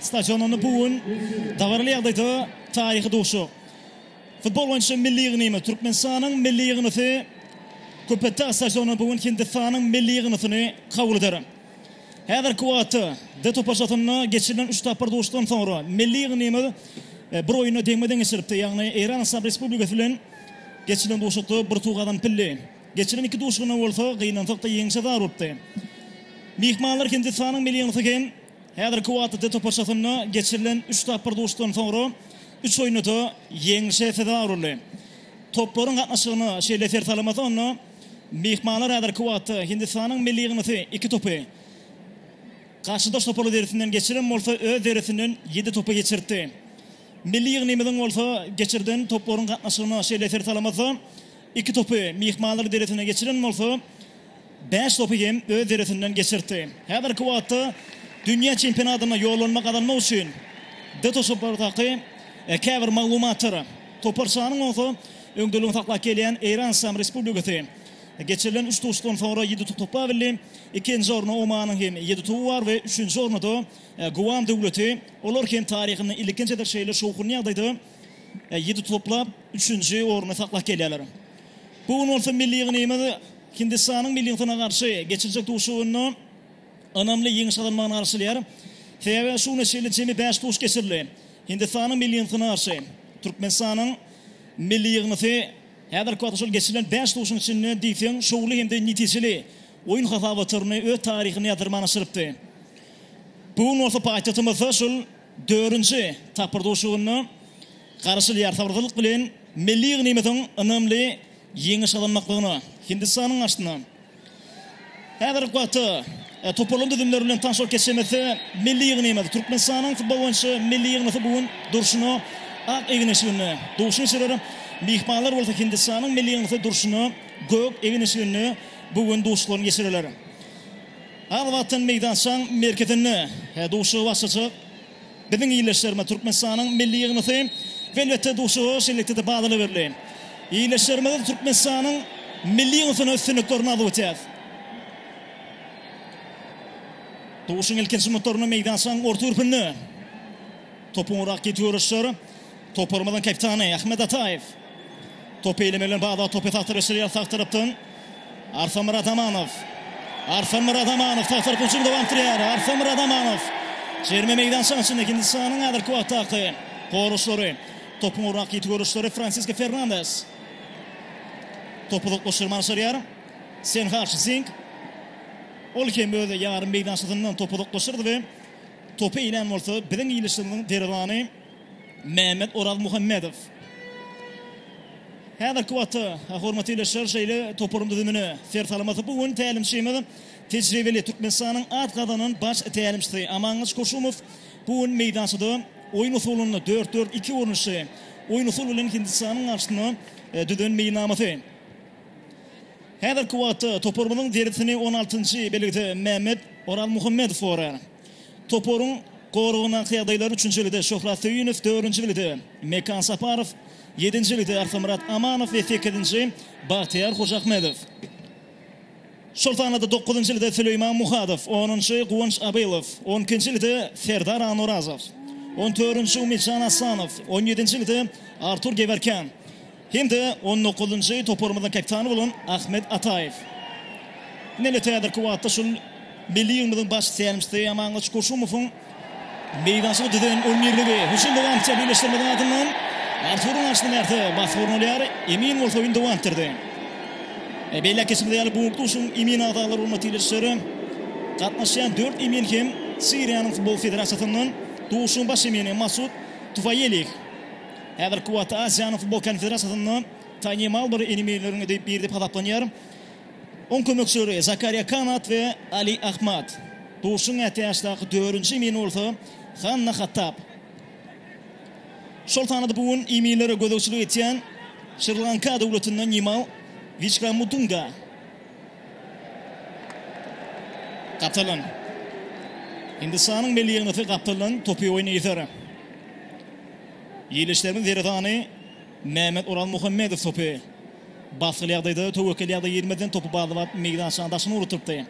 stadionynda bu gün dabaraly ýagdaýda taryhy duşuşyk, futbol boýunça milli ýygnymy, Türkmenistanyň milli ýygnysy Köpetdag stadionynda bu gün Hindistanyň milli ýygnysyny kabul eder. Häzirki wagtda D toparçasynda geçirilen üç tapgyr duşuşykdan soňra milli ýygnymyz bir oýunda deňme-deň geçiripdi, ýagny Eýran Yslam Respublikasy bilen geçirilen duşuşykda bir utuk gazanyp bildi. Geçirilen iki duşuşygynda bolsa gynansak-da ýeňiş ýazgarylpdy. Myhmanlar Hindistanyň milli ýygnysy hem Häzirki wagtda D toparçasynda geçirilen üç tapgyr duşuşykdan soňra üç oýunda-da ýeňlişe sezewar boldy. Toplaryň gatnaşygyna şeýle ser salamaty onda myhmanlar häzirki wagtda Hindistanyň milli ýygyndysy iki topy, garşydaş toparlar derisinden geçiren bolsa öz derisinden ýedi topy geçiripdi. Milli ýygnymyzyň bolsa geçirden toplaryň gatnaşygyna şeýle ser salamatda iki topy myhmanlar derisine geçiren bolsa, bäş topy hem öz deresinden geçirtdi. Häzirki wagtda dünýä çempionatyna ýollanma gazanmak üçin dtoşopardaky käbir maglumatlar, toparçanyň bolsa öňdeligini saklap gelýän Eýran Yslam Respublikasy geçirilen üç duşuşykdan soňra ýedi top toplap bildi. Ikinji orunda Omanyň hem ýedi toby bar we üçünji orunda-da Guam döwleti. Olar hem taryhynda ilkinji gezek şeýle şowhunly ýagdaýda ýedi toplap üçünji orny saklap gelýärler. Bu gün bolsa milli ýygnymyz. Hindistanyň milli ýygtyna garşy geçiljek duşuşygynda ynamly ýeňiş gazanmagyny garşylaýar. Sebäbi şu güne çenli jemi bäş tutuş geçirildi. Hindistanyň milli ýygtyna garşy Türkmenistanyň milli ýygnysy häzirki wagta şol geçirilen bäş tutuşyň içinde diýseň şowly hem-de netijeli oýun hasabatyrny öz taryhynda ýazdirmän aşyrypdy. Bu gün bolsa paýtagtymyzda şol dördünji tapgyr duşuşygynda garaşylýar. Sabyrsyzlyk bilen milli ýygnymyzyň ynamly Ýeňiş gazanmaklygyna Hindistanyň garşysyna häzirki wagtda toparlaryň düzümleri bilen tanyş bolup geçişimiz milli ýygnymyz, Türkmenistanyň futbol boýunça milli ýygnysy bu gün durşuna ak egin eşiginde duşy geçirer. Myhmanlar bolsa Hindistanyň milli ýygnysy durşuna gök egin eşiginde bu gün duşlaryny geçirerler. Az wagtdan meýdançaň merkezinde duşuşygy başlajak. Biziň ildeşlerimiz, Türkmenistanyň Milli Ýygnasy Welwetde duşuşygy şeýlelikde-de badala berli. Ildeşlerimiz Türkmenistanyň Milli Ýygnasyna üstünliklerini arzuw etýäris. Duşuşygyň ilkinji minutlarynda meýdançanyň orta gürpünde topuň urak ýetip ýörişler. Toparymyzyň kapitany Ahmet Ataýew. Topy eýlemek bilen bagly topy sag tarapa çevirýär, sag tarapdan Arslan Myradamanow. Arslan Myradamanow sag tarapdan hüjümi dowam etdirýär. Arslan Myradamanow Jerime meýdançasynyň içinde Hindistanyň häzirki wagtdaky goraçlary. Topuň ugrundaky ýiti göreçleri Fransisko Fernandes. Top uzak boşlukdan başarýar. Senharç Zing. Ol hem öz ýarym meýdançasyndan topu uzaklaşdyrdy we Topy iýen bolsa biziň ýylysymyzyň derwezany Mehmet Orazmuhammedow. Häzirki wagtda, hormatly ildeşler, şeýle toparyň düzümine ser salmasak, bu gün tälimçimiz tejribeli Türkmenistanyň at gazanan baş tälimçisi Amangylyç Koşumow bu gün meýdançada oýun usulynda dört, dört, iki görnüşli oýun usul bilen Hindistanyň garşysyna düzen meýilnamasy. Häzirki wagtda toparymyzyň dersini on altynjy belgide Mämmet Oralmuhammedow gorar. Toparyň goragyndaky ýagdaýlar üçünji belgide Şöhrat Söýünow, dördünji belgide Mekan Saparow, ýedinji belgide Arkamyrat Amanow we sekizinji Bagtyýar Hojaahmedow. Şol sanada dokuzynjy belgide Süleýman Muhadow, onunjy Guwanç Abylow, on ikinji belgide Serdar Anurazow, on dördünji Umidjan Aslanow, on ýedinji belgide Artur Gewerken, Hem-de on dokuzynjy toparymyzyň kapitany bolan Ahmet Ataýew. Ine-de häzirki wagtda şol milli ýygymyzyň baş tälimçisi Amangylyç Goşumowyň meýdançada düzen on birligi. Bu şunda wagtça birleşdirmedik adyndan Arturyň garşysyna bärde bas gurnalyar. Emin bolsa indi wagtyrdy. Belläp geçimiz ýaly, bu duşuşygyň emin agzalary bolmak diýlişleri gatnaşýan dört emin hem Siriýanyň futbol federasiýasyndan. Duşuşygyň baş emini Masud Tufaýelih. Häzirki wagtda Aziýanyň futbol konfederasiýasynda tanymal bir enemeýleriň biri diýip hasaplanýar. Oň kömekçileri Zakariýa Kanat we Ali Ahmad. Duşuň ätiýaçdaky dördünji emini bolsa Hanna Hattab. Şol sanda-da bu gün eminlere gözegçilik etýän Şri-Lanka döwletinden Nimal Wiçkramudunga. Gapdaldan. Hindistanyň milli ýygnaty gapdaldan topy oýnaýar. Ýerleşikleriň zergany Mehmet Oraz Muhammedow topy basgyly ýagdaýda töwekgel ýagdaýa girmezden topy bazlap meýdançanyň daşyna ugrutdypdy.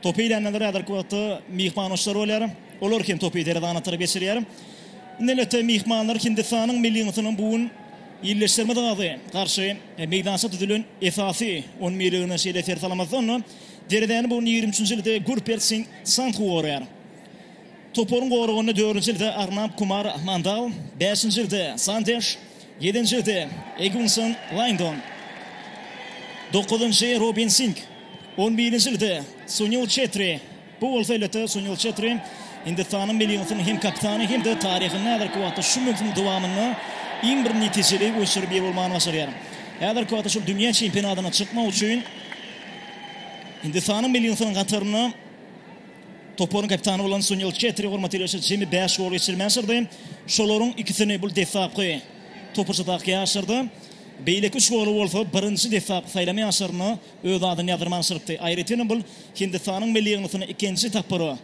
Topy iýlenler häzirki wagtda myhman oýunçylar bolýar. Olar hem topy zergana tarap geçirýär. Indi elbetde myhmanlar Hindistanyň milli ýygyndysynyň bu gün ýerleşikleriň zergady garşy meýdança düzülen esasy on birligine şeýle ser salamazdan derezäni bu gün ýigrimi üçünji ýylda Gurpert Sing Sandhu gorýar. Toparyň goragynda dördünji ýerde Arnab Kumar Mandal, bäşinji ýerde Sandeş, ýedinji ýerde Egunson Laýndon, dokuzynjy Robin Sing, on birinji ýerde Sunil Çetri, bu bolsa elbetde Sunil Çetri Hindistanyň milli ýygyndysynyň hem kapitany hem-de taryhynda häzirki wagtda şu möwsümiň dowamynda iň bir netijeli oýunçylaryň biri bolmagyny başarýar. Häzirki wagtda şol dünýä çempionatyna çykmak üçin Hindistanyň milli ýygyndysynyň hatarynda Toparyň kapitany bolan Sunil Çetri hormat ýörişe jemi bäş gol geçirip ýaşyrdy. Şolaryň ikisini bu deslapky topurçadaky ýaşyrdy. Beýleki üç goly bolsa birinji deslapky saýlama ýaşyrynda öz adyny ýazdyrma ýaşyrypdy. Aýratynam bu Hindistanyň milli ýygnasyna ikinji tapgyra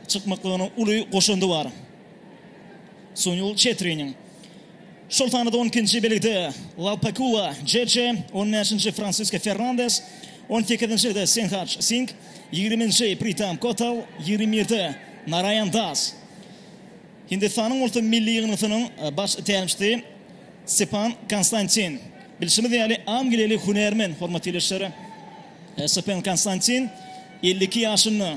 çykmaklygyna uly goşandy bar. Sunýul Çetriniň, şol sanda-da on ikinji belgide Lalpakua Jeje, on bäşinji Fransisko Fernandes, on sekizinjide Senhaj Sing, ýigriminji Pritam Kotal, ýigrimi birde Naraýan Das, Hindistanyň bolsa milli ýygyndysynyň baş tälimçisi Sepan Konstantin. Bilşimiz ýaly, angiliýaly hünärmen, hormatly ildeşler, Sepan Konstantin elli iki ýaşynda.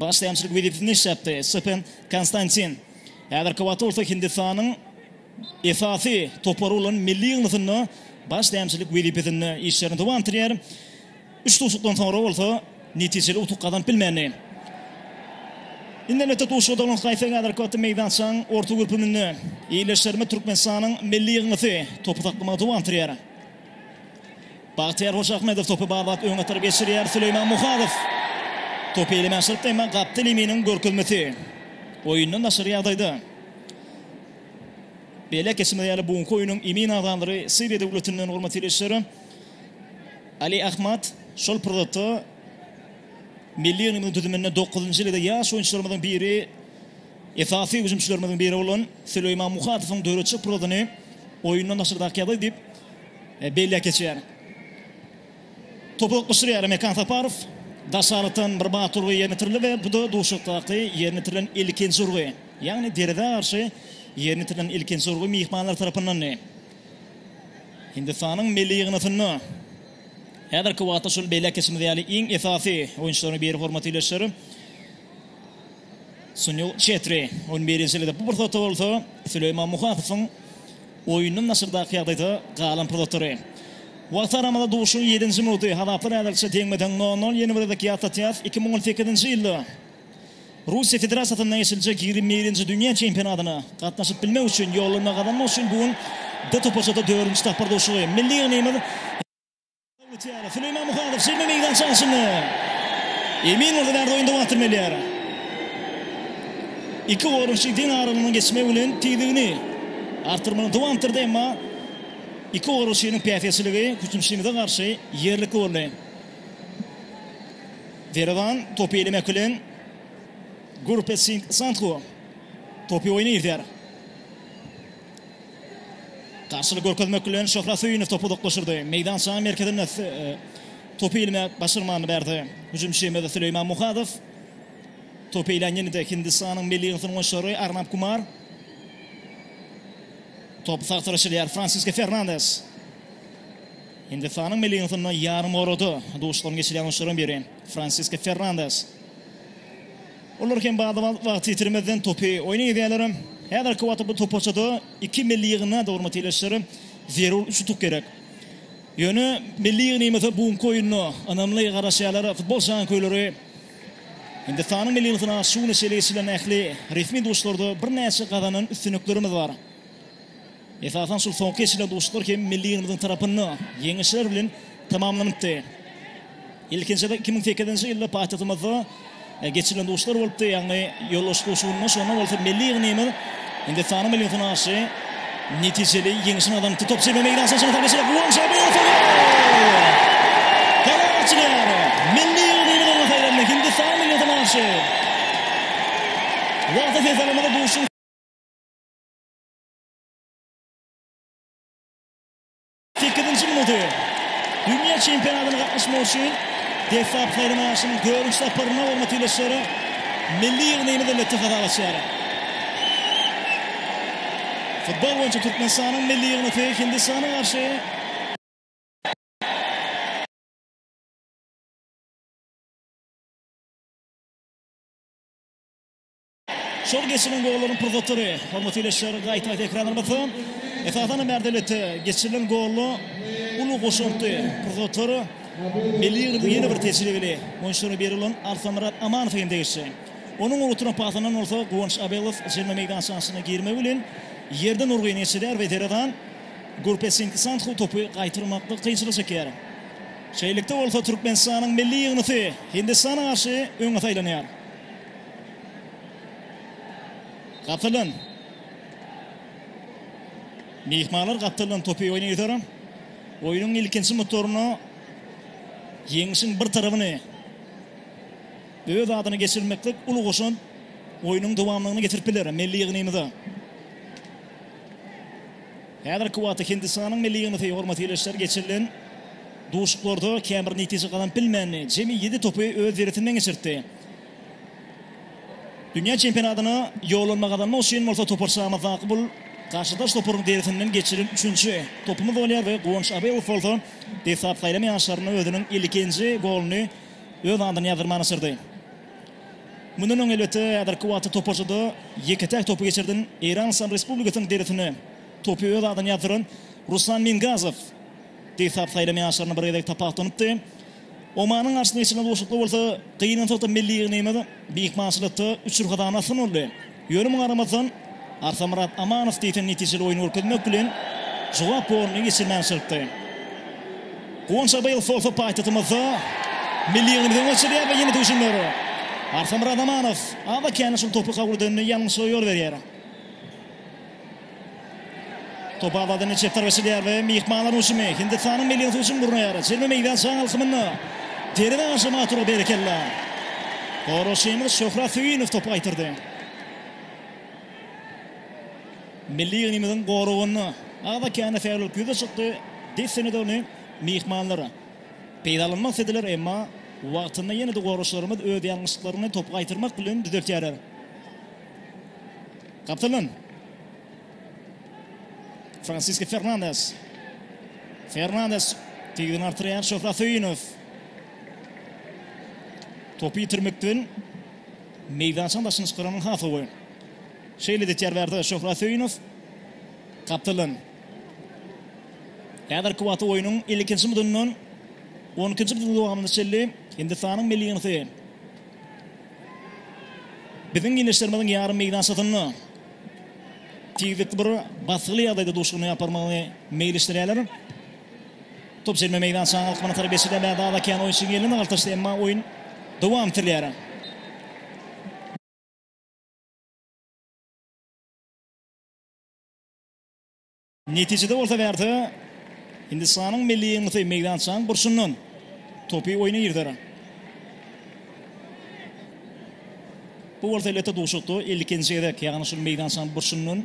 Başlançylyk wezipesinde iş tapdy. Stepen Konstantin häzirki wagtda bolsa Hindistanyň esasy topary bolan Milli Ýygnasynda başlançylyk wezipesinde işlerini dowam etdirýär. Üç duşuşykdan soňra bolsa netijeli utuk gazanyp bilmändi. Indi elbetde duşuşyga dolanyp gaýtsak häzirki wagtda meýdançanyň orta görpüminde ýerleşýär Türkmenistanyň Milli Ýygnasy topy saklamagy dowam etdirýär. Bagtyýar Hojaahmedow topy barbat öňe atyryp geçirýär, Süleýman Muhadow topy elemän çyrypdy, emma Gapteliminiň görkezmesi oýundan daşary ýagdaýda. Belläp geçmeli ýaly, bu günki oýnuň emin agzalary Siriýa döwletinden hormatly ildeşler. Ali Ahmad şol pursatda milli ýygndymyzyň düzüminde dokuzynjy ýylyda ýaş oýunçylarymyzyň biri. Esasy hüjümçilerimiziň biri bolan Süleýman Muhatowyň döretjek pursadyny oýundan daşardak ýaly diýip, belläp geçýär. Topy oklaşdyrýar Mekan Saparow. Daş arakdan bir batly urgy ýerine ýetirildi we bu-da duşakdaky ýerine ýetirilen ilkinji urgy. Ýagny derezä garşy ýerine ýetirilen ilkinji urgy myhmanlar tarapyndandy. Hindistanyň milli ýygyndysynda häzirki wagtda şol belläp geçimiz ýaly iň esasy oýunçylaryň biri hormatly ildeşler. Sunil Çetri on bir ýaşalydy. Bu pursatda bolsa Süleýman Muhadowyň oýundan daşardaky ýagdaýda galan pursatlary. Wagt aramada duşuň ýedinji minuty. Hazaplar häzirlikçe deňme-deň nol-nol. Ýene bir gezek ýatlatýarys, iki müň on sekizinji ýylda Russiýa Federasiýasynda geçiriljek ýigrimi birinji dünýä çempionatyna gatnaşyp bilmek üçin ýollanma gazanmak üçin bu gün D toparçada dördünji tapgyr duşuşygy. Milli ýygnymyz. Süleyman Muhadow şirme meýdan çalşyny Emin Murdanarda oýunda wagtyny berýär. Iki oýunçy deň aralygyny geçmek bilen tizligini artdyrmagyny dowam etdirdi, emma iki oýunçynyň päsgelçiligi hüjümçymyza garşy ýerlikli boldy. Derewan topy elemek bilen Gurpetsing Santhu topy oýna girýär. Garşylyk görkezmek bilen, Şöhrat Söýünow topy uzaklaşdyrdy. Meýdançanyň merkezinde topy ilmek başarmany berdi. Hüjümçimizde Süleýman Muhadow. Topy ilýän ýene-de Hindistanyň milli ýygyndysynyň oýunçylary Arnab Kumar. Top sag tarap çyzýar Fransisko Fernandes. Hindistanyň milli ýygyndysynda ýarym orada duşuşyklaryň geçirilýän oýunçylaryň biri Fransisko Fernandes. Olar hem bada-bat wagt ýitirmezden topy oýna gidýärler. Häzirki wagtda bu toparçada iki milli ýygynda-da hormatly ildeşler, zerur üç utuk gerek. Ýöne milli ýygnymyza bu günki oýunda ynamly garaşýarlar futbol janköýleri. Hindistanyň milli ýygyndysyna şu güne çenli geçirilen ähli resmi duşlarda birnäçe gazanan üstünliklerimiz bar. Esasan şul soňky geçirilen duşuşyklar hem milli ýygyndymyzyň tarapynda ýeňişler bilen tamamlanypdy. Ilkinjisi iki müň sekizinji ýylda paýtagtymyzda geçirilen duşuşyklar bolupdy, ýagny ýolbaşçy duşuşygynda. Şonda bolsa milli ýygnymyz Hindistanyň millisine garşy netijeli ýeňişini gazanypdy. Top jebe meýdançasyna çenli sarp edilýär. Won Çžabi orta gol! Gala açylýar. Milli ýygnymyz oňa saýlandy. Hindistan millisine garşy wagta ses alamada duşuşygyň Sekizinji minuty. Dünýä çempionatyna gatnaşmak üçin deslap saýlamaýaşyň dördünji saparyna hormat ýylyşlara milli ýygnymyz elbetde hasap açýar. Futbol boýunça Türkmenistanyň milli ýygmasy Hindistana garşy Şol geçirilen gollaryň pursatlary, hormatly ildeşler, gaýtadan tekrarlanylsa, esasan-da Märdebetde geçirilen golla uly goşantly pursatlar Milli ýygyndyrda ýene bir tejribeli oýunçylara berilen Arsamyrat Amanowa hem degişli. Onuň ugrukdyran pasyndan bolsa Guwanç Abelow jerimäň meýdançasyna girmegi bilen ýerden urgy netjeleýär we Zerezan Gurpesinkisanthu topy gaýtarmakda kynçylyk çekýär. Şeýlelikde bolsa, Türkmenistanyň milli ýygyndysy Hindistana garşy öňe saýlanýar. Gapylan. Myhmanlar gapylan topy oýna ýüzerim. Oýnuň ilkinji mutoruna ýeňişiň bir tarapyny öz adyna geçirmeklik uly goşant oýnuň dowamlygyna getirip biler milli ýygnymyza. Häzirki wagtda Hindistanyň milli ýygmasy hormatly ildeşler geçirilen duşuklarda käbir netije gazanyp bilmändi. Jemi ýedi topy öz deresinden geçirtdi. Dünýä çempionatyna ýollanma gazanmak üçin bolsa toparçamyzdaky bul garşydaş toparyň derisinden geçiren üçünji topumyz bolýar we Guwanç Abelow bolsa desgap saýlama ýaşlarynda özüniň ilkinji goluny öz adyna ýazdyrmaga başardy. Mundan öň, elbetde, häzirki wagtda toparçada ýeke-täk topy geçirden Eýran Yslam Respublikasynyň derisine topy öz adyna ýazdyran Ruslan Mingazow desgap saýlama ýaşlarynda bir gezek tapawutlanypdy. Omanyň garşysyna geçen duşuşykda bolsa gynansakda milli ýygnagymyz myhmançylykda üç ýrhadan asgyn boldy. Ýöne muňa garamazdan, Arsamyrat Amanow diýseň netijeli oýun görkezmek bilen, jogap goluny geçirmän çyrpdy. Guwanç Abaýew bolsa paýtagtymyzda milli ýygnamyzy öňe sürýär we ýene duşundyr. Arsamyrat Amanow az-da kände şol topy kabul edende ýalňyşlyga ýol berýär. Top abadan çep tarap eşilýär we myhmanlaryň hüjümi Hindistanyň milli ýygyndy hüjüm gurnaýar. Jemi meýdan jaň alkymynda derňe aşam Atura berekella. Goraşymyz Şöhrat Söýünow topy gaýtardy. Milli ýygnymyzyň goragynda agza kände fäalylyk ýüze çykdy. Dessine-de ony myhmanlar peýdalanmak islediler, emma wagtynda ýene-de goraşlarymyz öz ýalňyşlyklaryny topy gaýtarmak bilen düzeltýärler. Kapylan. Fransiska Fernandes. Fernandes tegini artyryar Şöhrat Söýünow. Topy ýitirmekden meýdançaň başyny çykaran Hasawy. Şeýle edýär bärde Şöhrat Söýünow. Kapylan. Häzirki wagtda oýnuň 52-nji mudundan 12-nji mudunyň dowamyna çenli Hindistanyň milli ýygyndy. Biziň giňişlerimiziň ýarym meýdançasynda tizlikli bir basgyly ýagdaýda duşuşygyny ýaparmagyny meýilleşdirýärler. Top çelme meýdançanyň alkymyna tarap geçirilýär. Bärdada kän oýunçy giňelmä galtaşdy, emma oýun dowam etilýär. Netijede bolsa wagta Hindistanyň milli ýygyndysy meýdançanyň burçundan topy oýna girder. Bu bolsa elbetde duşakda ilkinji gezek, ýagny şul meýdançanyň burçundan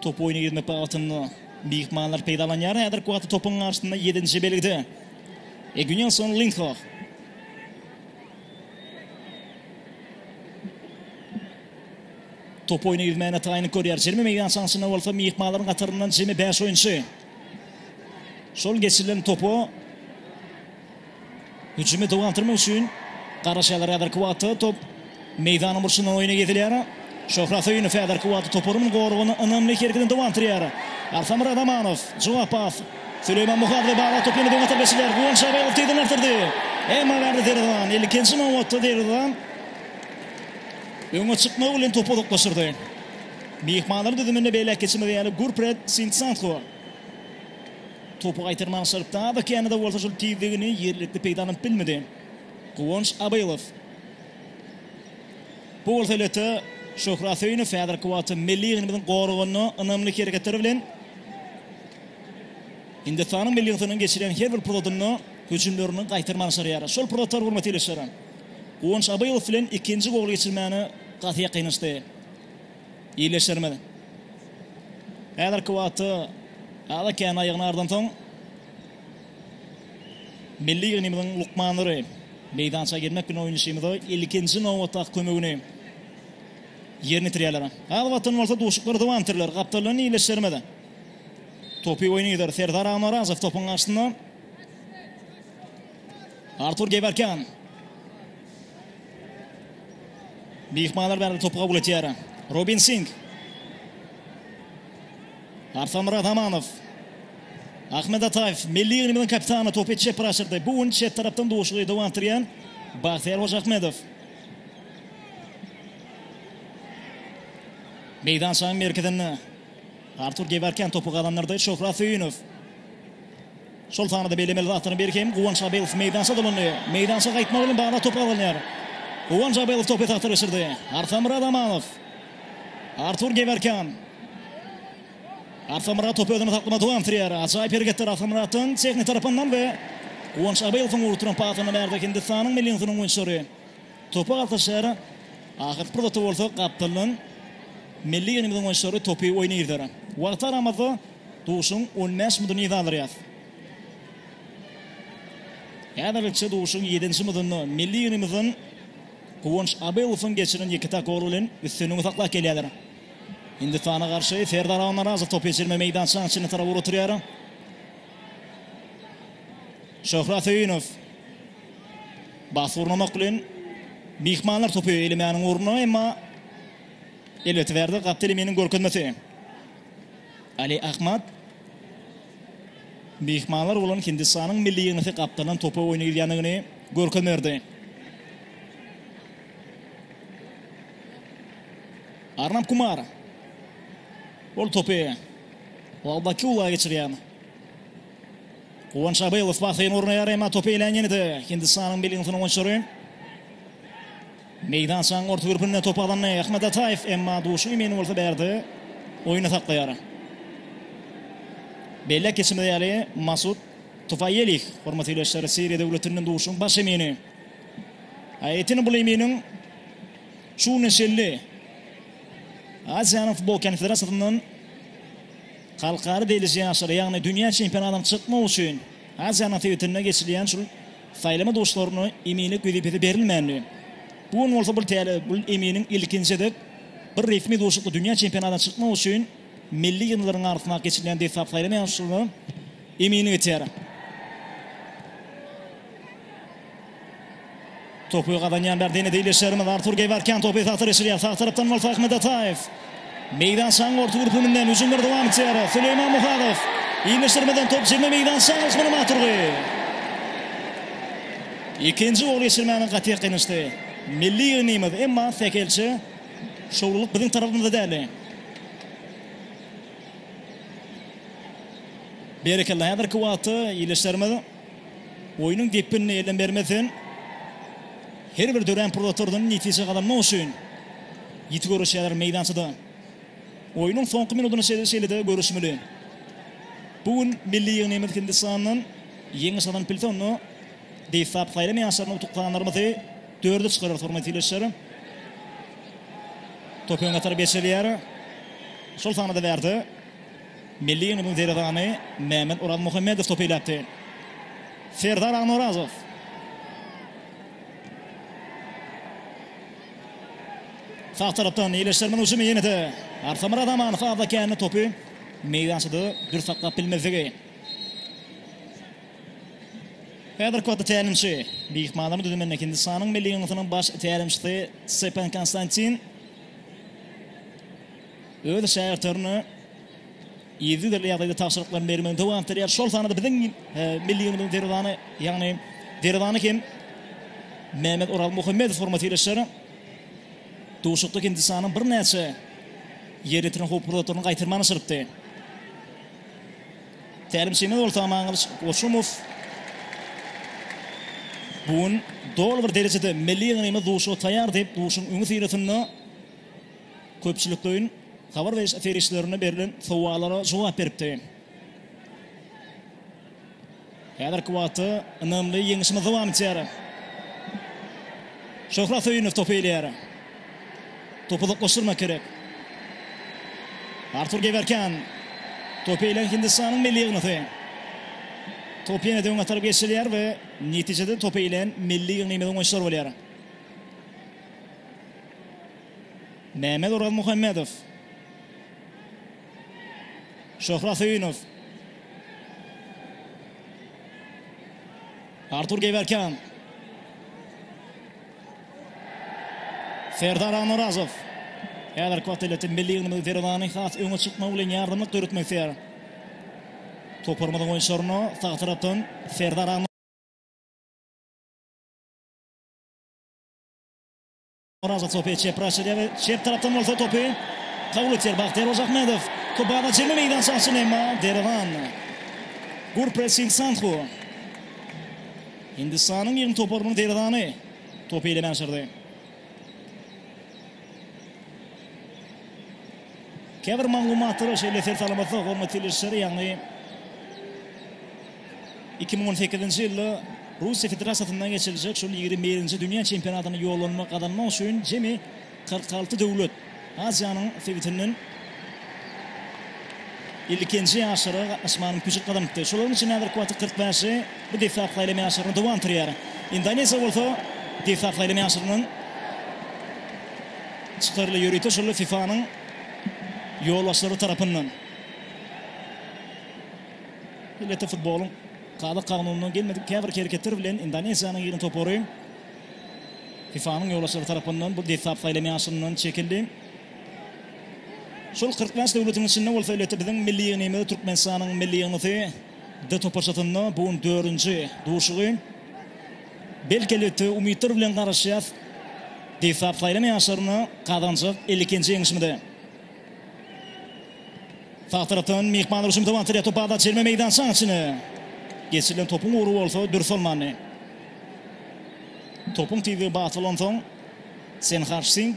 topy oýna girmek bagtynda myhmanlar peýdalanýar. Häzirki wagtda topuň garşysynda ýedinji belgide Egynýason Lindhoh. Top oýny ýüzmäne taýynlyk görýär. Jemi meýdan çanşynda bolsa myhmanlaryň hataryndan jemi bäş oýunçy. Şol geçirilen topa hüjümi dowam etdirmek üçin garaşýarlar. Häzirki wagtda top meýdanyň burçundan oýna girizilýär. Şöhrat Söýünow häzirki wagtda toparynyň goragynda ynamly hereketini dowam etdirýär. Artamyrat Amanow, jogap pas. Süleýman Muhadow baglap topy ýene-de oňa tarap geçirýär. Guwanç Abaýew ugtydan artdyrdy. Emma bärde derwezan, ilkinji nobatda derwezan. Öňe çykmagy bilen topu uzaklaşdyrdy. Myhmanlaryň düzüminde beýläk geçilmezi ýaly Gurpret Sintsanho topy gaýtarmaga çalypdy. Ada känede bolsa şol tizligini ýerlikli peýdalanyp bilmedi. Guwanç Abylow. Bu bolsa elbetde Şöhrat Söýünow häzirki wagtda milli ýygyndymyzyň goragynda ynamly hereketleri bilen Hindistanyň milli ýygyndynyň geçirýän her bir pursatynda hüjümlerini gaýtarmaga çalýar. Şol pursatlar hurmatly ildeşlerim. Guwanç Abaýew bilen ikinji gol geçirmäne gaty ýakynlaşdy. Ýeleşdirmedi. Häzirki wagtda Ada kän aýagyny ardansoň, milli ýygnymyzyň lukmanlary meýdança girmek bilen oýnaşymyza ilkinji nobatdaky kömegini ýerine ýetirýärler. Az wagtdan bolsa duşuklary dowam etdirirler. Gapdaldan ýeleşdirmedi. Topy oýna gider. Serdar Amarazow topuň garşysynda. Artur Gewerkýan. Myhmanlar bäri topu kabul etýär. Robin Sing. Arslan Myradamanow. Ahmet Ataýew milli ýygnymyzyň kapitany topy çep raşyrdy. Bu gün çep tarapdan duşuşygy dowam etdirýän Bagtyýar Hojaahmedow. Meýdançanyň merkezinde Artur Gewerkýan topy gazandyrdy. Şöhrat Söýünow. Şol sanda-da bellemeli zatlaryň biri hem Guwanç Abelow meýdança dolandy. Meýdança gaýtmagy bilen bagly top gazanýar. Guwanç Abelow topy esasda geçirdi. Arsamyrat Amanow. Artur Gewerkýan. Arsamyrat topy özünde saklamagy dowam etdirýär. Ajaýyp hereketler Arsamyratdan tehnik tarapyndan we Guwanç Abelowyň urup duran pasyndan bärde Hindistanyň milli ýygyndynyň oýunçylary topa galtaşýar. Ahyrky pursatda bolsa gapdaldan milli ýygyndymyzyň oýunçylary topy oýna girder. Wagt aramazda Duşuň on bäş muduny yza aldyrýas. Häzirlikçe duşuň ýedinji mudunda milli ýygnymyzdan Guwanç Abylowyň geçiren ýeke-täk goly bilen üstünligi saklap gelýärler. Hindistana garşy Serdar Almyrazow topy geçirme meýdançaň içine tarap ugraturýar. Şöhrat Söýünow bas gurnamak bilen myhmanlar topy elemäniň ornuna emma elbetde bärde Gapdel Eminiň görkezmesi. Ali Ahmad myhmanlar bolan Hindistanyň milli ýygnasy gapdaldan topa oýny gidýändigini görkezme berdi. Arnab Kumar ol topy Wagdaky ula geçirýär. Guwanç Abylow basyny gurnaýar, emma topy elän ýene-de Hindistanyň milli ýygnasynyň oýunçylary. Meýdançanyň orta gürpünde top alandy Ahmet Ataýew, emma duşuň emini bolsa bärde oýny saklaýar. Belläp geçimiz ýaly, Masud Tufaýelih, hormatly ildeşler, Siriýa döwletinden duşuň baş emini. Aýettin bul eminiň şu günüň şelli Aziýanyň futbol konfederasiýasyndan halkara deýliji ýaşlara, ýagny dünýä çempionatyna çykmak üçin Aziýanyň sebitinde geçirilýän şul Saýlama duşlaryna eminlik wezipesi berilmändi. Bu gün bolsa bir täze Bul eminiň ilkinji gezek bir resmi duşakda dünýä çempionatyna çykmak üçin milli ýygyndlaryň arasyndaky geçirilýän desgap saýlama ýaryşyna eminlik etýär. Topy gazanýan bärde ýene-de ildeşlerimiz Artur Geýwerkian topy esasy geçirýär. Sag tarapdan bolsa Ahmet Ataýew. Meýdançanyň orta gürpüňinden hüjümler dowam etýär. Süleýman Muhadow. Iýmitleşdirmeden top jemle meýdançanyň yşgyna mat urdy. Ikinji gol geçirmäge gaty gynyşdy. Milli ýygnymyz, emma sähelçe şowlulyk biziň tarapymyzda däldi. Berekella, häzirki wagtda ildeşlerimiz Oýnuň depginini elden bermezden, her bir dörän pursatlardan netije gazanmak üçin ýiti göreşýärler meýdançada. Oýnuň soňky minudyny şeýle-de görüşmeli. Bu gün milli ýygnymyz Hindistandan ýeňiş gazanyp bilse, onda Beýsap saýlama ýaşlaryna utuklanlarymyzy dörde çykararys, hormatly ildeşler. Top öňe tarap geçirilýär. Şol sanda-da bärde. Milli Ýygynyň derwezany Mämmet Orazmuhammedow topy iläpdi. Serdar Agnorazow. Sag tarapdan ýeleşdirmeň hüjümi ýene-de Arsamyrat Amanow azdakäni topy meýdançada dürs saklap bilmezligi. Häzirki wagtda tälimçi myhmanlaryň düzüminde Hindistanyň Milli Ýygnysynyň baş tälimçisi Stepan Konstantin. öz şägirtlerine yzygiderli ýagdaýda tabşyryklaryny bermegini dowam etdirýär. Şol sanda biziň milli ýylyň derwezany, ýagny derwezany hem Mehmet Oral Muhammedow hormat ýerleşýär. Duşakda Hindistanyň birnäçe ýerine ýetiren howply zatlaryny gaýtarman aşyrypdy. Tälimçimiz bolsa Amangylyç Goçumow bu gün doly bir derejede milli ýylymy duşa taýýar diýip, duşuň öňüsyrasynda köpçülikleýin habar beriş serişdelerinde berlen sowallara jogap beripdi. Häzirki wagtda ynamly ýeňişimiz dowam etýär. Şöhrat Söýünow topy eýleýär. Topy uzaklaşdyrmak gerek. Artur Gewerkan. Topy eýleýän Hindistanyň milli ýygyndy. Top ýene-de öňe tarap geçirilýär we netijede topy eýleýän milli ýygnymyzyň oýunçylary bolýar. Mehmet Orazmuhammedow. Şöhrat Söýünow. Artur Gewerkan. Serdar Anurazow. Häzir Koteletin milli ýygyndymyzyň derwezany has öňe çykmagy bilen ýardamlyk döretmek isleýär. Toparymyzyň oýunçylaryna sag tarapdan Serdar Oraza topy çepraşyga we çep tarapdan bolsa topy kabul etýär Bahtiýar Ojahmedow. Kubada çenli meýdança açyl emma Derewan. Gurpres Sing Sanhu. Hindistanyň ýygynt toparynyň derewany topy eýlemän şyrdy. Käbir maglumatlara şeýle ser salamasak, hormatly ilişleri, ýagny Iki müň on sekizinji ýylda Russiýa Federasiýasynda geçiriljek şol ýigrimi birinji dünýä çempionatyna ýollanma gazanmak üçin jemi kyrk alty döwlet Aziýanyň sebitinden ilkinji ýaşlara gatnaşmaga mümkinçilik gazanypdy. Şolaryň içinde häzirki wagtda kyrk bäşi bu desgap saýlama ýaşlaryna dowam etdirýär. Indoneziýa bolsa desgap saýlama ýaşlaryndan çykaryldy. Ýörite şol FIFA-nyň ýolbaşçylary tarapyndan. Elbetde futbolyň kazak kanunyna gelmedik käbir hereketler bilen Indoneziýanyň ýygyny topary FIFA-nyň ýolbaşçylary tarapyndan bu desgap saýlama ýaşyndan çekildi. Şol kyrk bäş döwletiň içinde bolsa elbetde biziň milli ýygnymyz Türkmenistanyň milli ýygnysy D toparçasynda bu gün dördünji duşugy. Belki elbetde umytlar bilen garaşýas desgap saýlama ýaşlaryna gazanjak elli ikinji ýeňişimize. Sag tarapdan myhman Ruşum Tawantire toparda çelme meýdançaň içine. Geçirilen topuň ugry bolsa dürs bolmandy. Topuň tizligi bat bolan soň Senharş Sing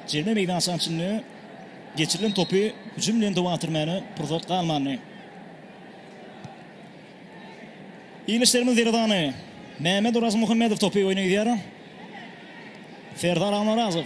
çelme meýdançaň içinde geçirilen topy hüjüm bilen dowam etdirmäne pursat galmandy. Ilişlerimiz derazany Mehmet Oraz Muhammedow topy oýna gidýär. Serdar Amarazow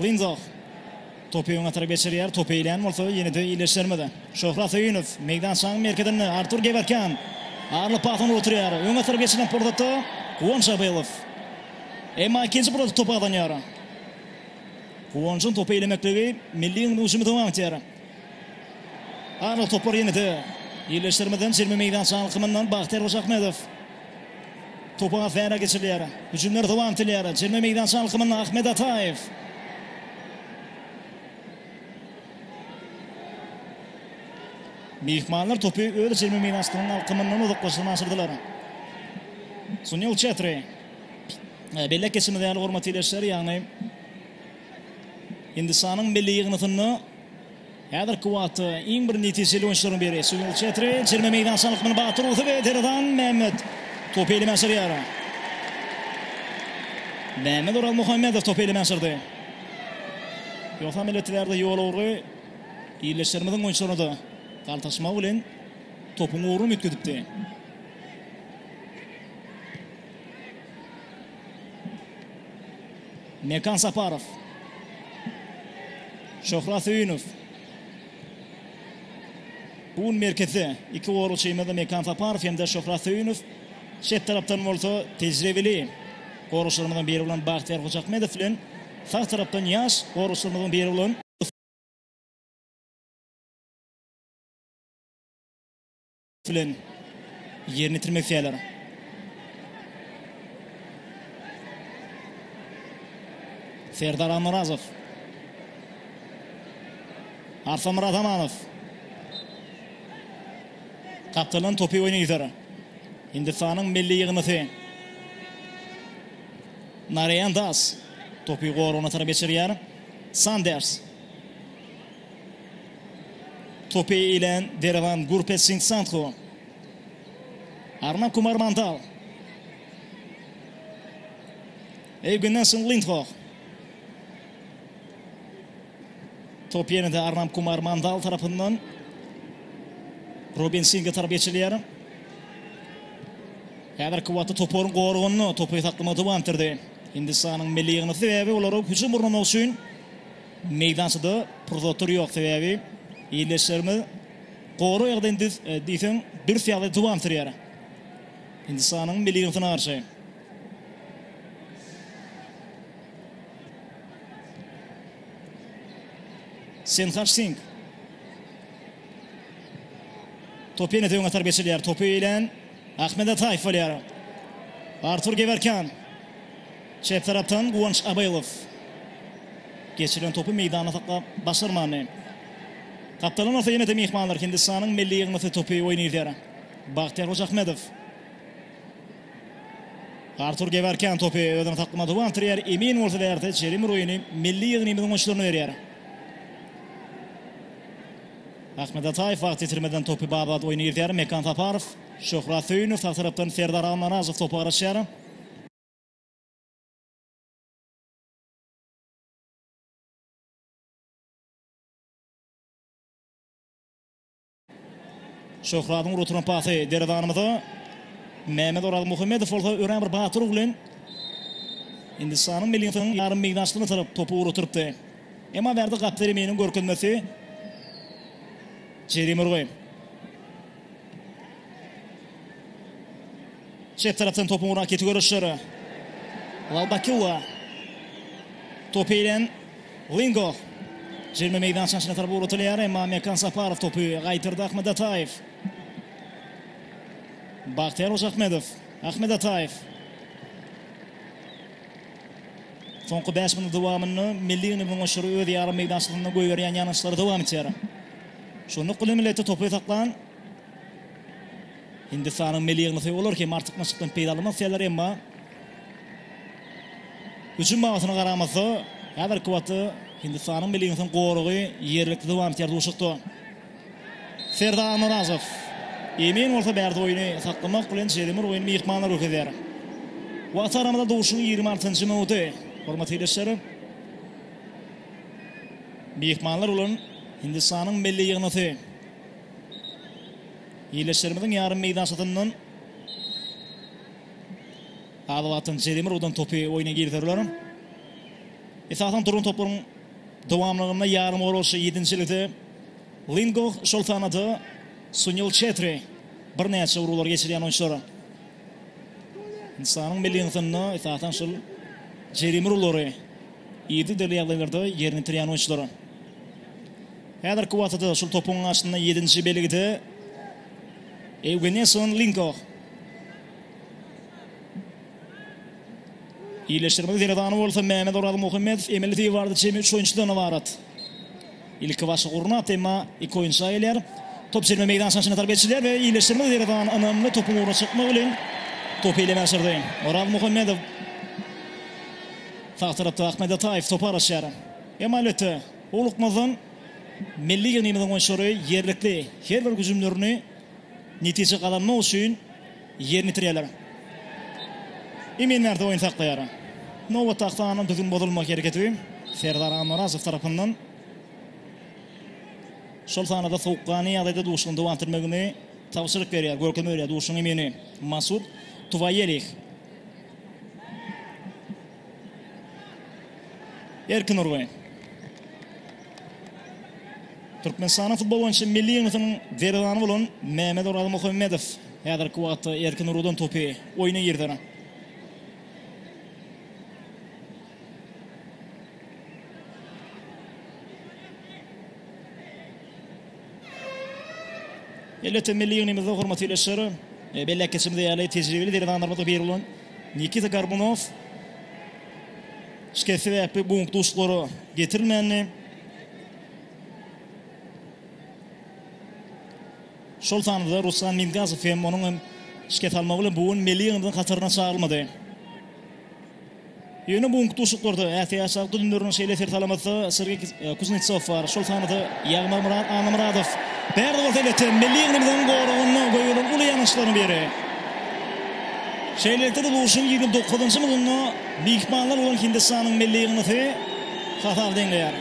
Linzoh. Topy öňe tarap geçirýär. Topy eýlän bolsa ýene-de iýleşdirmedi. Şöhrat Söýünow meýdançanyň merkezinde Artur Gewerkýan. Arly pas ony oturýar. Öňe tarap geçirilen pursatda Guwanç Abylow. Emma ikinji pursat topy gazanýar. Guwançyň topy eýlemekligi milli ýygnygymyzy öňe aňtýar. Anyk topar ýene-de ýerleşdirmeden çenli meýdança alkymyndan Bagtyýar Hojaahmedow. Topa Gazara geçirilýär. Hüjümler dowam etilýär. Çenli meýdança alkymynda Ahmet Ataýew. Myhmanlar topy öz çenli meýdançasynyň alkymyndan uzaklaşdyryna aşyrdylar. Sunil Çetri. Bellek geçmedi ýaly hormatly ýerleşler, ýagny Hindistanyň milli ýygyndysynda häzirki wagtda iň bir netijeli oýunçylaryň biri Sunil Çetri çelme meýdançanyň akymyny batyr urdy we Terazan Mehmet topy elimä sürýär. Mehmet Orazmuhammedow topy elimä sürdi. Ýogsam elbetde bärde ýol ugry ildeşlerimiziň oýunçylaryna-da galtaşmagy bilen topuň ugruny üýtgedipdi. Mekan Saparow. Şöhrat Söýünow. Bugun merkezde iki goragçymyz Mekan Saparow hem-de Şöhrat Söýünow. Çep tarapdan bolsa tejribeli goragçylarymyzyň biri bolan Bagtyýar Hojaahmedow bilen sag tarapdan ýaş goragçylarymyzyň biri bolan bilen ýerine ýetirmek isleýärler. Serdar Almyrazow. Arsamyrat Amanow. Gapdalan topy oýna ýüzer. Hindistanyň milli ýygyndysy. Narayan Das topy goragyna tarap geçirýär. Sanders. Topy ilen Derewan Gurpet Sing Sandhu. Arnab Kumar Mandal. Evgenasyn Lindhoh. Top ýene-de Arnab Kumar Mandal tarapyndan Robin Singe tarap geçilýär. Häzirki wagtda toparyň goragynda topy saklama dowam etdirdi. Hindistanyň milli ýygyndysy sebäbi olary hüjüm gurnamak üçin Meýdançada pursatlar ýok, sebäbi ildeşlerimiz gorak ýagdaýyny düz diýseň dürs ýagdaýda dowam sürýär. Hindistanyň milli ýygyndysyna garşy. Senhaç Sing. Topy ýene-de öňe tarap geçirilýär. Topy ilen Ahmet Ataýew bolýar. Artur Gewerkýan. Çep tarapdan Guwanç Abaýelow. Geçirilen topy meýdanda saklap başarmandy. Gapdalan bolsa ýene-de myhmanlar Hindistanyň milli ýygyndysy topy oýun idýär. Bagtyýar Hojaahmedow. Artur Gewerkýan topy özüne saklamada dowam etdirýär. Emin bolsa bärde Jerim Roýini milli ýygnymyzyň oýunçylaryna berýär. Ahmet Ataýew wagt ýitirmeden topy Babat oýuna girizýär. Mekan Saparow, Şöhrat Söýünow sag tarapdan Serdar Almyrazow topa garaşýar. Şöhradyň urup oturan pasy derezanymyza. Mehmet Orazmuhammedow bolsa örän bir batyr bilen Hindistanyň milli ýarym meýdançasyna tarap topy urup oturypdy. Emma Berdi Gapderiminiň görkezmesi jerime urgy. Çep tarapdan topuň uran keti görüşleri. Lalbakiwa. Topy ilen Lingo. Jerime meýdançasynyň içine tarap ugratylýar, emma Mekan Saparow topy gaýtardy Ahmet Ataýew. Bagtyýar Hojaahmedow. Ahmet Ataýew. Soňky bäş minudyň dowamynda Milli ýygnagyň oşary öz ýarym meýdançasynda goýberýän ýangyçlary dowam etýär. Şu nokady millete topy saklan Hindistanyň milli ýygnasy olar hem artykmaçlykdan peýdalanmak isleýärler, emma hüjüm babatynda garamazda, häzirki wagtda Hindistanyň milli ýygnasynyň goragy ýerlikli dowam etýär duşakda. Serdar Nyrazow. Emin bolsa bärde oýny saklamak bilen jerimar oýny myhmanlar görkezýär. Wagt aramyza duşuň ýigrimi altynjy minudy. Hormatly ildeşler. Myhmanlar bolan Hindistanyň milli ýygnasy. Ildeşlerimiziň ýarym meýdançasyndan az wagtdan jerimar udan topy oýna girizerler. Esasan duran toplaryň Dowamlygynda ýarymgoragçy ýedinjilikde Lingoh, şol sanda-da Sunil Çetri birnäçe urgulary geçirýän oýunçylar. Hindistanyň milli ýygyndysynda esasan şol jerime urgulary yzygiderli ýagdaýlarda ýerine ýetirýän oýunçylar. Häzirki wagtda-da şol topuň garşysynda ýedinji belgide Ewgeneson Lingoh. Ýerleşdirmegiň sergany bolsa Mämmet Orazmuhammedow, Emil Fiwardy çenli üç oýunçydan ybarat. Ilkibaşda gurnap, emma iki oýunçy aýylýar. Top çenli meýdançanyň içine tarap geçirilýär we ýerleşdirmegiň sergany ynamly topuň ugruna çykmak bilen topy ele başardy. Orazmuhammedow sag tarapda Ahmet Ataýew topy garaşýar. Emma elbetde, howlukmazdan milli ýygnagymyzyň oýunçylary ýerlikli her bir hüjümlerini netije gazanmak üçin ýerine ýetirýärler. Emin Märdow oýny saklaýar. Nobatdaky sanda düzgün bozulma hereketi Serdar Annarozow tarapyndan şol sanda-da sowukgany ýagdaýda duşuň dowam etdirmegini tabşyryk berýär, görkezme berýär duşuň emini Masud Tuwaýelih. Erkin urgy. Türkmenistanyň futbol boýunça milli ýygnasynyň derwezany bolan Mämet Orazmuhammedow häzirki wagtda erkin urgudan topy oýna girder. Elbetde milli ýygnymyzda hormatly ildeşler, e, belläp geçimiz ýaly tejribeli derwezanlarymyzyň biri bolan Nikita Gorbunow şikes sebäpli bu günki duşuşyklara getirilmändi. Şol sanda Ruslan Mingazow hem onuň hem şikes almagy bilen bu gün milli ýygyndyň hataryna çagyrylmady. Ýöne bu günki duşuşyklarda ätiýaçlar düzümlerine şeýle ser salamyzda Sergeý Kuznetsow bar, şol sanda Ýagmyrmyrat Annamyradow. Bärde bolsa elbetde milli ýygnymyzyň goragynda goýulan uly ýanaşlaryň biri. Şeýlelikde-de bu urşuň ýigrimi dokuzynjy mydynda myhmanlar bolan Hindistanyň milli ýygnasy hasap deňleýär.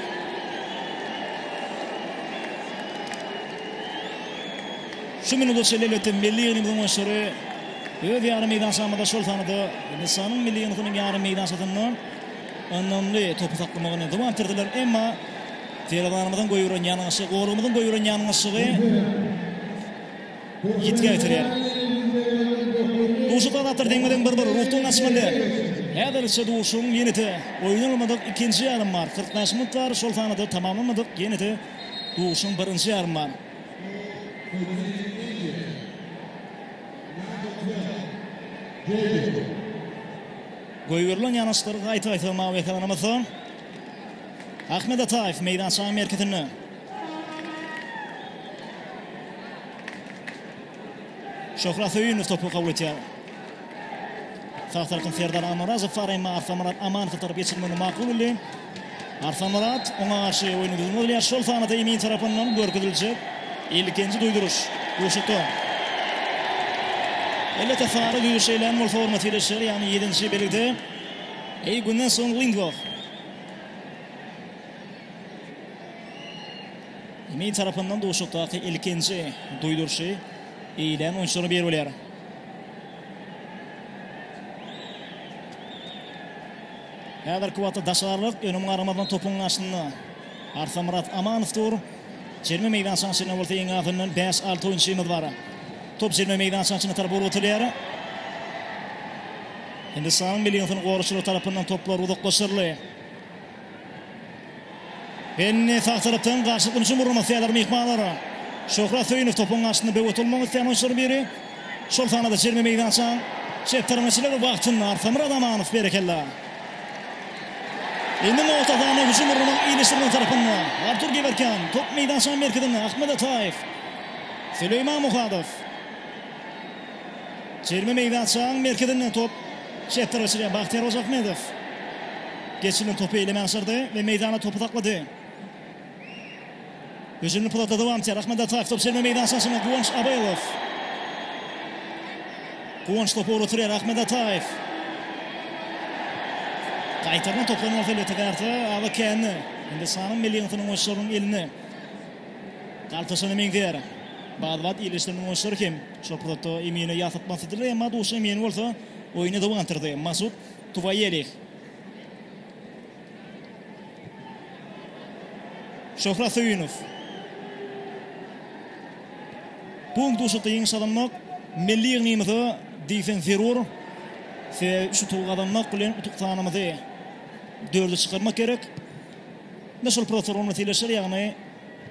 Şu minut çenli elbetde milli ýygnymyzyň oýunçylary Öz ýarym meýdançamyzda, şol sanda Nisanyň milli ýygyndysynyň ýarym meýdançasynda ynamly topy saklamaga ynjam berdirdiler. Emma derwezämizden goýberen ýalňyşy, golumyzyň goýberen ýalňyşygy ýitgä getirýär. Duşuşykda zatlar deňme-deň bir-bir ruhdan gaçmaly. Häzirlikçe duşuşygyň ýene-de oýnalmadyk ikinji ýarymy bar. Kyrk bäş minut bar, şol sanda tamamlanmadyk ýene-de duşuşygyň birinji ýarymy bar. Goýberilen ýanaşyklary gaýta-gaýta mawy ekranymyzda. Ahmet Ataýew meýdançanyň merkezinde. Şöhrat Söýünow topy kabul etýär. Sag tarapdan Serdar Amarazow Fareýma Arsamurat Amanowa tarap geçirmegini makul bildi. Arslanmyrat, oňa garşy oýnuň düzümine bolýar. Şol sanada Emin tarapyndan görkeziljek ilkinji duýduryş Guşuta. Elbetde, sary düýe şeýlem bolsa orna seretişer, ýagny ýedinji belgide Eýgundan soň Lindwall. Emin tarapyndan Guşutdaky ilkinji duýduryşy eýlän oýunçylaryň biri bolýar. Häzirki wagtda daşarylykk önüm garamazdan topuň garşysynda Arsamyrat Amanow dur. Jerime meýdançaň içinde bolsa iň azyndan bäş-alty oýunçymyz bar. Top jerime meýdançaň içine tarap urup atylýar. Hindistanyň milliýnsyny goraçylar tarapyndan toplar uzaklaşyryldy. Indi sag tarapdan garşylyk dönüşiň gurnamak isleýärler myhmanlar. Şöhrat Söýünow topuň garşysynda böwet bolmak isleýän oýunçylaryň biri. Şol sanda-da jerime meýdançaň çep tarapyna çenli wagtynda Arsamyr Adamanow berekella. Indi nobat Adamyna hüjüm gurnamak iýleşdireniň tarapynda. Artur Gewerkýan top meýdançaň merkezinde Ahmet Ataýew. Süleýman Muhadow. Jerime meýdançaň merkezinden top çepdere geçirilýär. Bagtyýar Hojaahmedow geçirilen topy eýleme aşyrdy we meýdanda topy saklady. Hüjümli pudaty dowam etýär. Ahmet Ataýew top jerime meýdançaň içinde Guwanç Abelow. Guwanç topy ugratyrýar Ahmet Ataýew. Gaýtarylan topdan bolsa elbetde garta Aba Käni. Hindistanyň milli ýygyndynyň oýunçylarynyň eline. Galtaşana meňzeýär. Baz wagt il işleriniň oýunçylary hem şol pursatda Emine ýatlap masladylar, emma duşy Emine bolsa oýuny dawa gandyrdy. Masud Tuwaýelih. Şöhrat Söýünow. Bu gün duşakda ýeňiş gazanmak milli ýygnymyza diýseň zerur. Sebäbi üç utugy gazanmak bilen utuk sanymyzy dörde çykarmak gerek. Indi şol protsedur ony sileşir, ýagny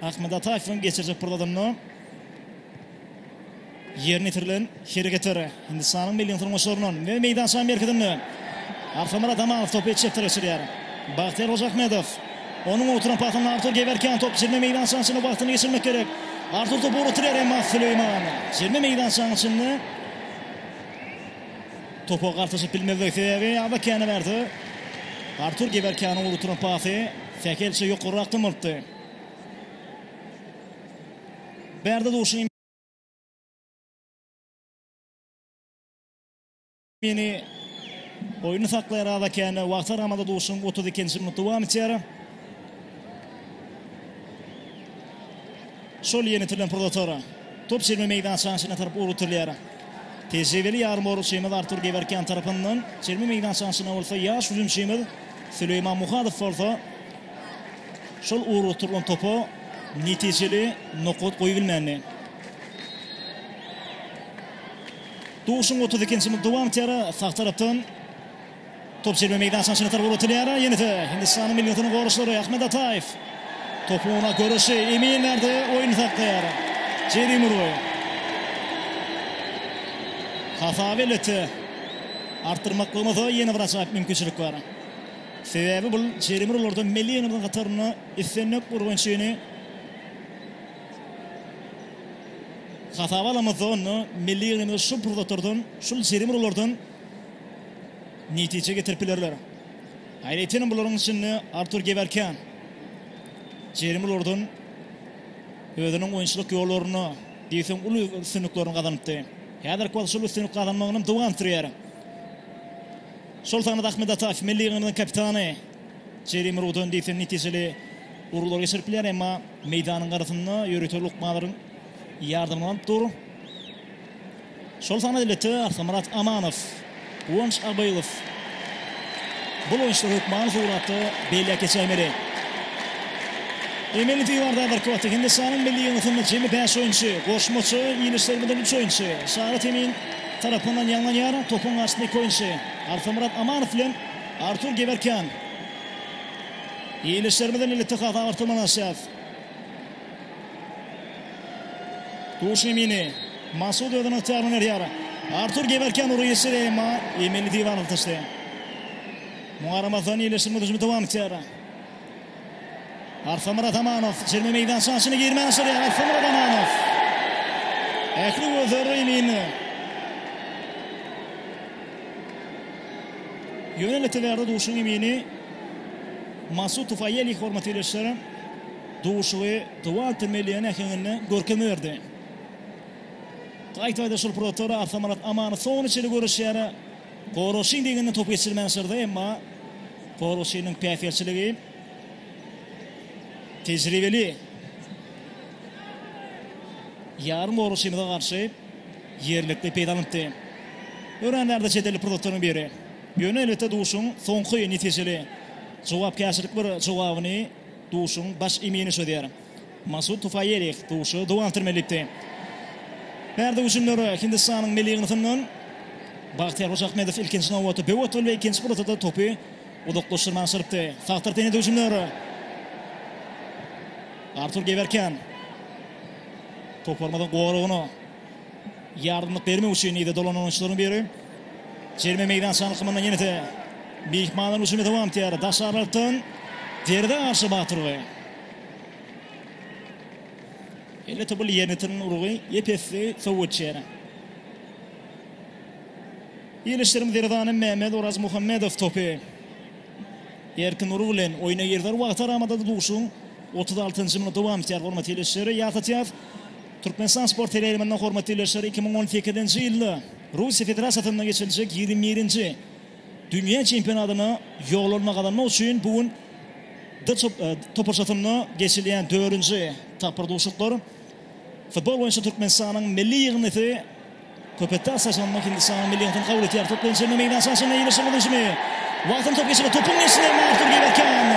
Ahmet Ataýewiň geçirjek pursatynda ýerine ýetirilen hereketler. Hindistanyň milli ýyndyrmaçlaryndan we meýdançanyň merkezinde Arfamyrat Amanow topy çepdere geçirýär. Bagtyýar Hojaahmedow. Onuň ugrudylan pasyndan Artur Gewerkýan top jerime meýdançanyň içinde wagtyny geçirmek gerek. Artur topy ugrudyryar, emma Süleýman jerime meýdançanyň içinde. Topa gartaşyp bilmezlik sebäbi Aba Kene berdi. Artur Gewerkýanyň uly turan pasy sähelçe ýokarrak dymyltdy. Berdi Duşin. Mini oýny saklaýar Aba Kene. Wagt aramada duşuň 32-nji minut dowam etýär. Şol ýenitilen pursatlar top jemi meýdançanyň içine tarap ugrutylýar. Tejribeli ýarymorugçymyz Artur Gewerkýan tarapyndan çelme meýdançasyna bolsa ýaş hüjümçimiz Süleýman Muhadow bolsa şol urguturylan topa netijeli nokat goýubilmändi. Duşuň otuz ikinji minut dowam etýär. Sag tarapdan Top çeper meýdançanyň içine tarap ugratylyar. Ýene-de Hindistanyň milli ýygyndynyň goraçlary Ahmed Ataýew. Topuň owuna göreşi Emin berdi. Oýny saklaýar Jeri Murray. Hata beleti artdyrmaklygymyza ýene bir ajaýyp mümkinçilik bar. Sebäbi bu Jeri Murraylardan milli ýygyndyň hatarynda islendik urgunçyny hasaba alamyzda onda milli ýygyndymy şu pursatlardan, şul Jeri Murraylardan netije getirip bilerler. Aýratynam bularyň içinde Artur Gewerken. Jerim ulardan özüniň oýunçylyk ýollaryna diýseň uly üstünliklerini gazanypdy. Häzirki wagt şol üstünlik gazanmagyny hem dowam etdirýär. Şol sanda Ahmet Ataýew milli ýygynyň kapitany Jerim urugdan diýseň netijeli uruglar geçirip bilýär, emma meýdanyň garasynda ýörite lukmalaryň ýardamyny alyp dur. Soltan Aýlete, Arkymyrat Amanow, Guwanç Abylow bul oýunçylar hökmany suratda belläp geçäýmeli. Emeli diwarda birki wagtda Hindistanyň milli ýygyndysynda jemi bäş oýunçy, goşmaça ýylyşdyrmadan üç oýunçy, Şagat Emin, tarapyndan ýaňlanýar, topuň garşysynda iki oýunçy, Arkymyrat Amanow bilen Artur Gewerkýan. Ýylyşdyrmadan Elitehas agyrtyrmalaşýar. Duşemini. Masud özüne ygtyýarly berýär. Artur geberken ury geçýär, emma Emeli diwan alyp taşlaýar. Muňa garamazdan ýerleşdirme hüjümi dowam etýär. Arslanmyrat Amanow jerime meýdançasynyň içine girmän başarýar. Arslanmyrat Amanow. Ähli gözler Emini. Ýöne Leteberdi duşuň Emini Masud Tufaýeli hormaty ýerleşdirer. Duşuşygy Twente Melian äheňinde görkezme berdi. Gaýtaýda şol pursatlar Arsamalak Amanow soňuna çenli göreşýär. Goroşin deňinden topy geçirmän ysyrdy, emma Goroşiniň päsgelçiligi tejribeli ýarym goroşimize garşy ýerlikli peýdalanypdy. Öränlerde çetelli pursatlaryň biri. Ýöne elbetde duşuşygyň soňky netijeli jogapkärçilik bir jogabyny Duşuň baş emini çözýär. Masud Tufaýerih duşy dowam etdirmeli diýipdi. Bärde hüjümler Hindistanyň milli ýygyndysyndan. Bagtyýar Hojaahmedow ilkinji nobatda böw atdy we ikinji pursatda-da topy uzaklaşdyrmaga çyrypdy. Sag tarapdan ýene-de hüjümler. Artur Gewerken toparymyzyň goragyna. Ýardamlyk bermek üçin yza dolanan oýunçylaryň biri. Jerime meýdança alkymyndan ýene-de myhmanlaryň hüjümi dowam etýär. Daş aralykdan Derdi Aşa Batyrowa. Ýöne topar ýerini ýitiren urgy ep-esli sowuk geçýär. Ýerleşdiren Zerdany Mehmet Orazmuhammedow topy erkin urgy bilen oýna girdi. Wagtaramada-da duşuşygyň otuz altynjy minuty dowam etýär. Hormatly ýerleşýär. Ýatlatýar. Türkmenistan sport teleýaýlymynda hormatly ildeşler iki müň on sekizinji ýylda Russiýa Federasiýasynda geçiriljek ýigrimi birinji Dünýä çempionatyna ýollanma gazanmak üçin bu gün D toparçasynda geçilýän dördünji tapgyr duşuşyklar futbol boýunça Türkmenistanyň milli ýygyndysy Köpetde Assaş Anna Hindistanyň milli ýygyndyny kabul edýär. Top bilen çemli meýdança daşynda ýerleşen ol hüjümi. Wagtyny top geçirdi. Topuň geçişine Martur Gewerkýan.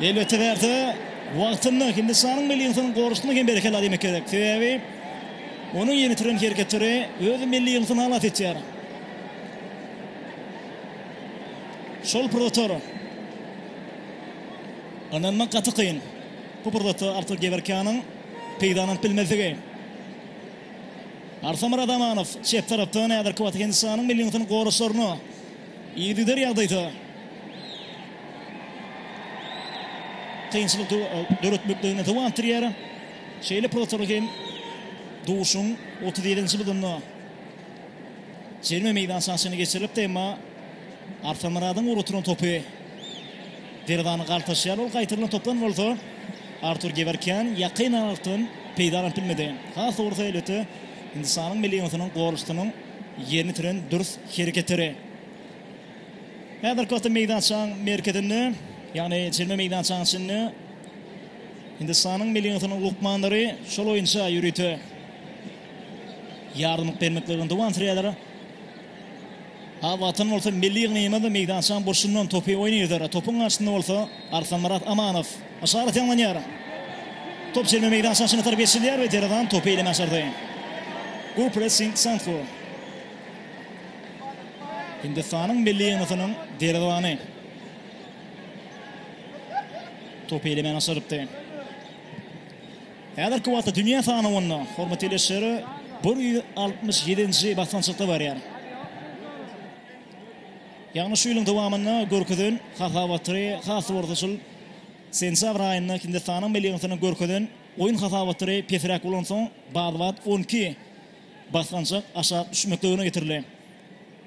Elbetde bärde wagtynda Hindistanyň milli ýygyndynyň gorusuna hem berekella diýmek gerek. Sebäbi onuň ýerine ýetiren hereketleri öz milli ýygyndyny halas etýär. Şol pursatlar ynanmak gaty kyn. Bu pursatda Artur Gewerkýanyň peýdalanyp bilmezligi. Arsamyr Adamanow çep tarapdan häzirki wagtda Hindistanyň milli ýygyndysynyň goraçlaryna yzygider ýagdaýda kynçylyk döretmekligine dowam etdirýär. Şeýle pursatlarda hem duşuň otuz ýedinji budunda jerime meýdançasyna geçirilipdi, emma Arsamyradyň ugrukdyran topy Derwezäni galtaşýar, ol gaýtarylan topdan bolsa Artur Gewerkýan ýakyn aralykdan peýdalanyp bilmedi. Has dogrusy, elbetde, Hindistanyň milli ýygyndysynyň golçusynyň ýerine ýetiren dürs hereketleri. Häzirki wagtda meýdançaň merkezinde, ýagny çelme meýdançaň içinde Hindistanyň milli ýygyndysynyň lukmanlary şol oýunça ýörite ýardamlyk bermeklerine dowam sürýärler. Ak watan bolsa milli ýygnagymyz meýdançaň burçundan topy oýnaýar. Topuň garşysynda bolsa Arslanmyrat Amanow. Yşarat ýaňlanýar. Top çelme meýdançanyň içine tarap geçirilýär we Derazan topy eleme başardy. Go pressing Sanfu. Hindistanyň milli ýygnasynyň Derazany topy elemäni başarypdy. Häzirki wagtda dünýä sanawynda hormat ýerleşýşeri bir ýüz altmyş ýedinji basgançakda barýar. Ýagny şu ýylyň dowamynda görkezen hasabaty has orta şol sentýabr aýynda Hindistanyň milli ýygyndysynyň görkezen oýun hasabaty pesräk bolansoň bat-bat on iki basgançak aşak düşmekligine getirildi.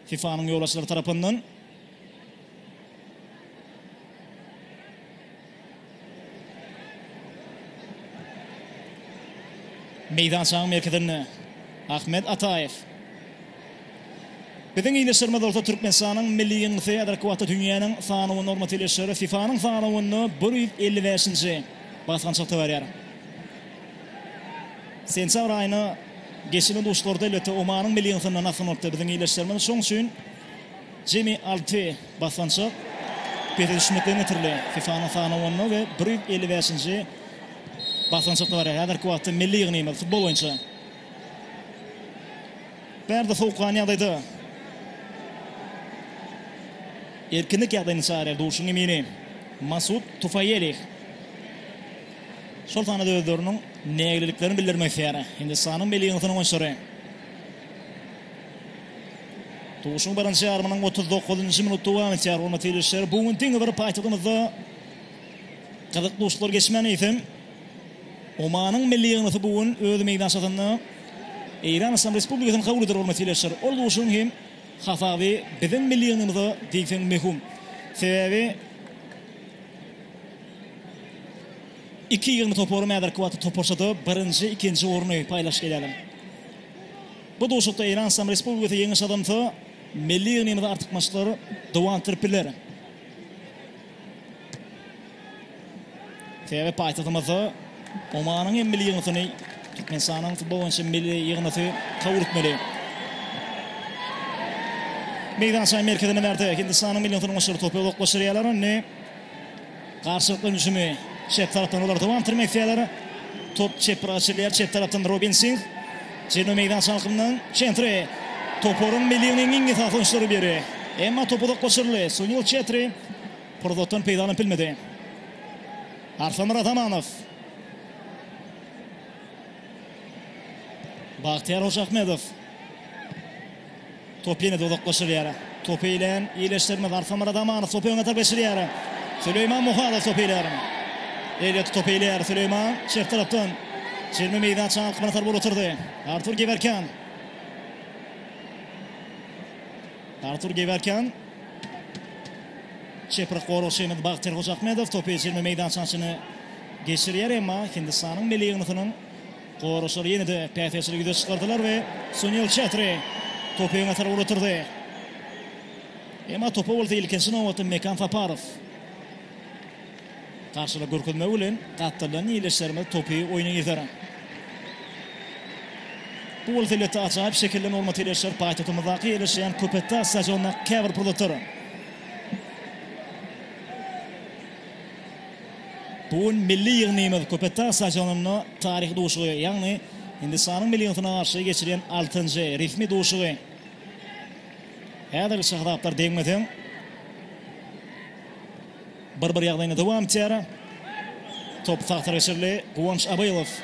FIFA-nyň ýolbaşçylary tarapyndan. Meýdançanyň merkezinde Ahmet Ataýew. Biziň ildeşlerimiz bolsa Türkmenistanyň milli ýygyndysy häzirki wagtda dünýäniň sanawy normativ ildeşleri FIFA-nyň sanawynda bir ýüz elli bäşinji basgançakda barýar. Sentýabr aýyna geçirilen duşuşyklarda elbetde Omanyň milli ýygyndysyndan asgyn bolupdy biziň ildeşlerimiz. Şonuň üçin Jemi alty basgançak pese düşmekden getirildi. FIFA-nyň sanawynda we bir ýüz elli bäşinji basgançakda barýar. Häzirki wagtda milli ýygnymyz futbol boýunça bärde sowukgan ýagdaýda erkinlik ýagdaýyny çagyrýar. Duşuň emini Masud Tufaýeli şol sanda özleriniň nägileliklerini bildirmek isleýär. Hindistanyň milli ýygnasynyň oýunçylary. Duşuň birinji ýarymynyň otuz dokuzynjy minuty dowam etýär, hormatly ildeşler. Bu gün diňe bir paýtagtymyzda gyzykly duşuşyklar geçmän eýsem, Omanyň milli ýygnasy bu gün öz meýdançasynda Eýran Yslam Respublikasyny kabul eder, hormatly ildeşler. Ol duşuşygyň hem hasaby biziň milli ýygnymyza diýseň möhüm. Sebäbi iki ýygyndy toparam häzirki wagtda toparçada birinji, ikinji orny paýlaşyp gelýärler. Bu duşuşykda Eýran Yslam Respublikasy ýeňiş gazansa, milli ýygnymyzy artykmaçlyklar dowam etdirip biler. Sebäbi paýtagtymyzda Omanyň hem milli ýygnasyny Türkmenistanyň futbol boýunça milli ýygnasy kabul etmeli. Meýdançanyň merkezine bärde Hindistanyň milli ýygnasynyň oýunçylary topy uzaklaşdyrýarlar indi. Garşylyk dönüşümi çep tarapdan olar dowam etdirmek isleýärler. Top çep gyra açylýar. Çep tarapdan Robin Singh. Jenu meýdança alkymyndan çentri. Toparyň milliginiň iň esasy oýunçylary biri. Emma top uzak goşuryldy. Sunil Çetri pursatdan peýdalanyp bilmedi. Arslanmyrat Amanow. Bagtyýar Hojaahmedow. Top ýene-de uzaklaşylýar. Topy eýlän ýerleşdirme zarp Samara Zamanov topy öňe tarap geçirýär. Süleýman Muhadow topy eýlär. Elýot topy eýlär. Süleýman çep tarapdan çelme meýdan çalkymyna sarp uruturdy. Artur Gewerkýan. Artur Gewerkýan. Çeprik goragçymyz Bagtyr Hojaahmedow topy çelme meýdançanyň içine geçirýär, emma Hindistanyň milli ýygyndysynyň Goraşlar ýene-de päsgelçiligi ýüze çykardylar we Sunil Çetri topy öňe tarap ugrutyrdy. Emma topa bolsa ilkinji nobatda Mekan Saparow garşylyk görkezmegi bilen gatdyrlan ýerleşlerimiz topy oýna girder. Bu bolsa elbetde ajaýyp şekilde nurmat ýerleşýär paýtagtymyzdaky ýerleşýän Köpetdag stadionynda käbir pursatlar. Bu gün milli ýygnymyz Köpetdag stadionynda taryhy duşuşygy, ýagny Hindistanyň milliýetine garşy geçirýän altynjy resmi duşuşygy häzirlikçe hasaplar degmeseň, bir-bir ýagdaýynda dowam etýär. Top tagtara geçirildi. Guwanç Abylow.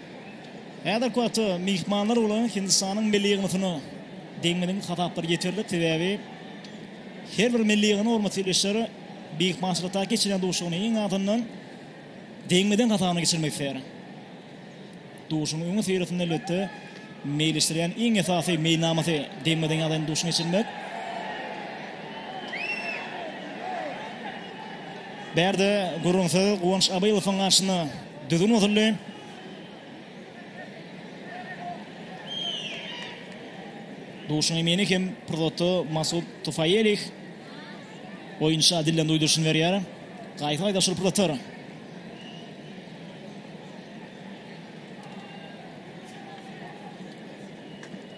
Häzirki wagtda myhmanlar bolan Hindistanyň milli ýygnasyna deňmedigiň hasaplary ýeterlik, sebäbi her bir milli ýygna hormatly ildeşler myhmançylykdaky geçirýän duşugyny iň azyndan deňmedigiň hasabyna geçirmek isleýär. Duşugyň öňi syýrasynda elbetde meýilleşdirýän iň esasy meýilnamasy deňmedigiň ýagdaýynda duşuny geçirmek. Bärde gürrüňsiz Guwanç Abylowyň garşyna Düzgün bozuldy. Duşuň emini hem pursatda Masud Tufaýelih oýunça dilden duýduryşyny berýär. Gaýta aýdaşylyp pursatlar.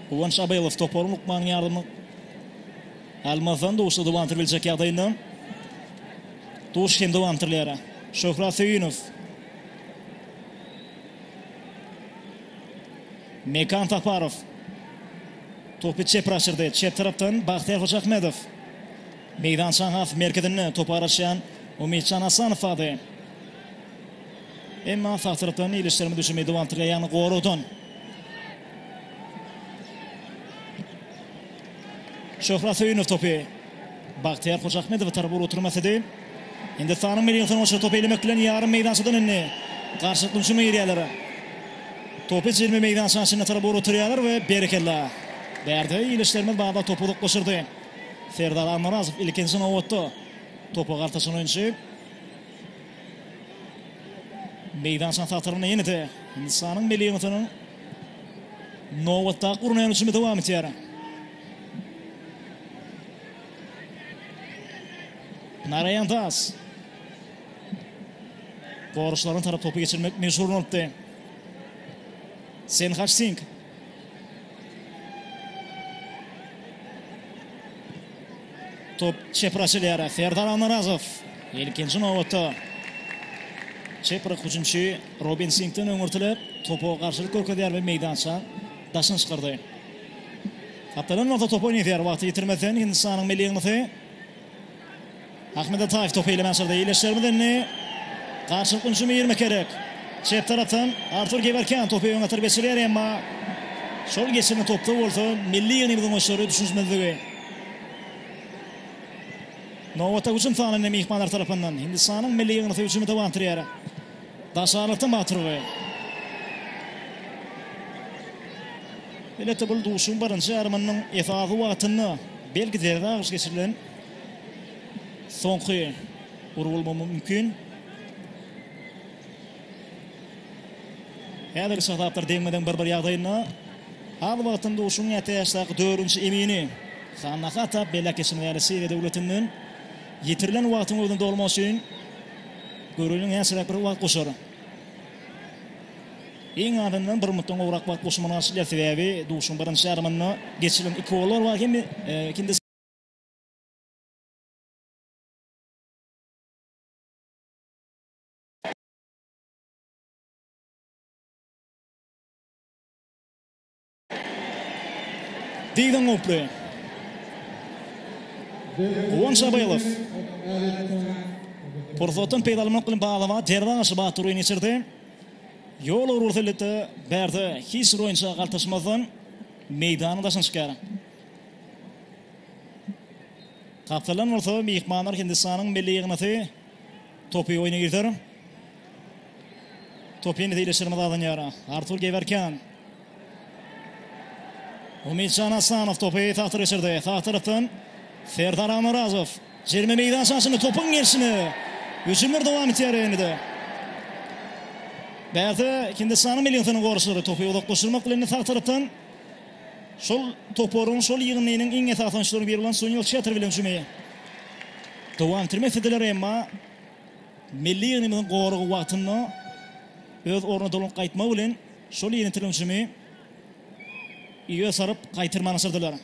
Guwanç Abylow toparyň lukmanyň ýardamy Almazdan duşy dowam etdirip biljek ýagdaýynda. Duş hem dowam etdirilýär. Şöhrat Söýünow. Mekan Saparow. Topy çep raşyrdy. Çep tarapdan Bagtyýar Hojaahmedow. Meýdançaň has merkezinde topa garaşýan Umytjan Hasanow bardy. Emma sag tarapdan ilişdirme düşemi dowam etdirilýär, ýagny goragdan. Şöhrat Söýünow topy Bagtyýar Hojaahmedowa tarap ugrukdyrmak istedi. Hindistanyň milli ýygnagçylary topy elemek bilen ýarym meýdançadan indi garşylykly hüjüme girýärler. Topy jilme meýdançanyň içine tarap ugrukdyrýarlar we berekella! Bärde ildeşlerimiz barda topy uzaklaşdyrdy. Serdar Almyrazow ilkinji nobatda topa galtaşan oýunçy. Meýdançanyň tagtarynda ýene-de Hindistanyň milli ýygnatynyň Nobatdaky gurnaýan uçumy dowam etýär. Naraýan Das. Goruşlaryň tarap topy geçirmek meşhur bolupdy. Senhaç Sing. Top çepir açylýar. Serdar Anarazow. Ilkinji nobatda çepir hüjümçi Robin siňkden öňürtilip, topa garşylyk görkezýär we meýdança daşyna çykyrdy. Gapdalan bolsa topy oýnaýar. Wagty ýitirmezden Hindistanyň milli ýygnasy. Ahmed Ataýew topy eýlemän çyrdy. Eýleşermiz indi? Garşylykly hüjüme girmek gerek. Çep tarapdan Artur Gewerkýan topy öňe atyryp geçirýär, emma şol geçirilen topda bolsa milli ýygnymyzyň oýunçylary düşünişmezligi. Nobatdaky hüjüm sanynda myhmanlar tarapyndan Hindistanyň milli ýygnasy hüjümi dowam etdirýär. Daş arakda Maturgy. Elbetde bul duşuşygyň birinji ýarymynyň esasy wagtynda belki zerbe agyş geçirilen soňky ur bolmagy mümkin. Häzirki şataplar deňme-deň bir-bir ýagdaýynda. Az wagtyň duşuşygyň ýa täşdaky dördünji emini Hanna Hatap, beýläk geçen ýaly Siriýa döwletinden ýitirilen wagtyň özüni dolmak üçin Göreli näçeräk bir wagt goşar. Iň azyndan bir minutdan gowrak wagt goşmagyna garşy däl, sebäbi duşuň birinji ýarymynda geçirilen iki gollar bar hem ikindisi. Dylan Goply. Guwanç Abaýelow. Pursatdan peýdalanmak bilen Baglama derwa garşy batyr oýun geçirdi. Ýol ugry bolsa elbetde bärde hiç bir oýunça galtaşmazdan meýdanyň daşyna çykýar. Gapdalan bolsa myhmanlar Hindistanyň milli ýygnasy topy oýna girder. Topy ýene-de ýerleşdirmä dadanýar. Artur Gewerken. Umytjan Asanow topy tagta geçirdi. Sag tarapdan Serdar Almyrazow. Jerime meýdança açyldy topuň gelşine. Hüjümler dowam etýär indi-de. Bärde Hindistanyň milli ýygyndynyň goraçlary topy uzaklaşdyrmak bilen indi sag tarapdan şol toparyň, şol ýygyndynyň iň esasy oýunçylarynyň biri bolan Sunil Çetr bilen hüjümi dowam etdirmek islediler, emma milli ýygnymyzyň goragy wagtynda öz ornuna dolanyp gaýtmagy bilen Şol ýene türümçimi öe saryp gaýtyrmanyşyrdylar.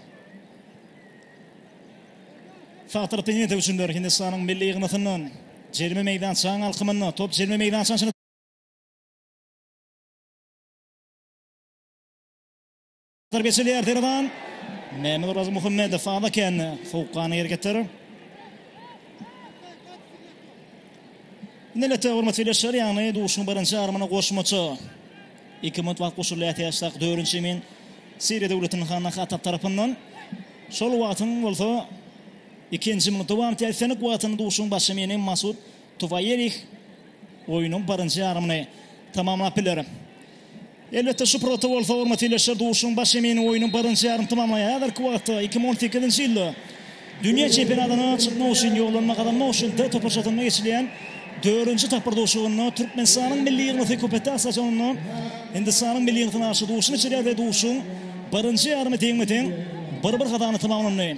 Faktor Penýetew üçindir Hindistanyň milli ýygnasyndan jerime meýdançaň alkymynda top jerime meýdançaň içinde. Zarbadar geçilýär Perman. Mehmet Orazmuhammedow aza kän sowukgany hergitdir. Nilete hormat birleşer ýagny duşuň birinji armyna goşmaça. Iki minut wagt goşulýar täşlak dörünji emin Siriýa döwletiniň hany Hatap tarapyndan. Şol wagtyň bolsa ikinji minut dowam etýär. Islendik wagtyny duşuň baş emini Masud Tuwaýerih oýnuň birinji armyny tamamlap biler. Elbetde, şu purata bolsa hormat ýerleşer, duşuşygyň baş emini oýnuň birinji ýarymy tamamlaýar. Häzirki wagtda iki müň on sekizinji ýylda dünýä çempionatyna çykmak üçin ýollanma gazanmak üçin D toparçasynda geçilýän dördünji tapgyr duşuşygynda Türkmenistanyň milli ýygnasy Köpetdag stadionynda Hindistanyň milli ýygnasyna garşy duşuşyk geçirýär we duşuşygyň birinji ýarymy deňme-deň bir-bir gazandy tamamlandy.